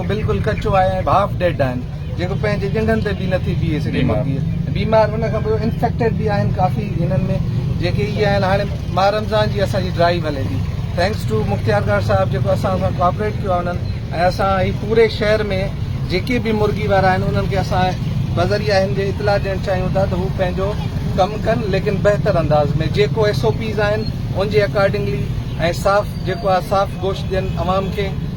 هو بلڪل ڪچو آهي ۽ هاف ڊيڊ آهن جيڪو پنهنجي ڄنگهن تي به نٿي بيهي سگهي مرغي بيمار ان کان پوء انفيڪٽيڊ به آهن ڪافي هنن ۾ جيڪي اهي آهن هاڻي ماهه رمضان جي اسان جي ڊرائيو هلي ٿي thanks to Mukhtiar guard sahib جيڪو اسان سان ڪوآپريٽ ڪيو آهي انهن ۽ اسان هي پوري شهر ۾ جيڪي به مرغي وارا آهن انهن کي اسان بذريعه هن جي اطلاع ڏيڻ چاهيون ٿا ته هو پنهنجو ڪم ڪن ليڪن بهتر انداز ۾ جيڪو ايس او پيز آهن ان جي اڪارڊنگلي ۽ صاف جيڪو آهي صاف گوشت ڏين عوام کي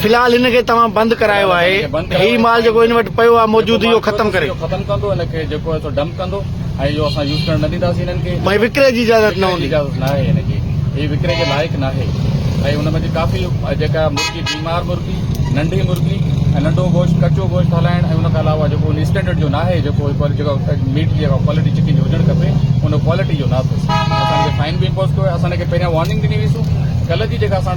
في الحال هن کي توهان بند ڪرايو آهي هي مال جيڪو هن وٽ پيو آهي موجود اهو ختم ڪري اهو ختم ڪندو هن کي جيڪو آهي سو ڊمپ ڪندو ۽ اهو اسان يوز ڪرڻ نه ڏينداسين هنن کي ڀاء وڪري جي اجازت نه هوندي اجازت نه آهي هن کي هي وڪري جي لائق نه آهي ۽ هن ۾ ڪافي جيڪا مرغي بيمار مرغي ننڍي مرغي ۽ ننڍو گوشت ڪچو گوشت هلائڻ ۽ ان کان علاوه جيڪو ان اسٽينڊرڊ جو ناهي جيڪو جيڪو ميٽ جي ڪوالٽي چڪن جي هجڻ کپي ان ڪوالٽي جو نه اٿس اسان کي فائن به امپوز ڪيو ويو اسان هن کي پهريان وارننگ ڏني هئي سو ڪلهه جي جيڪا اسان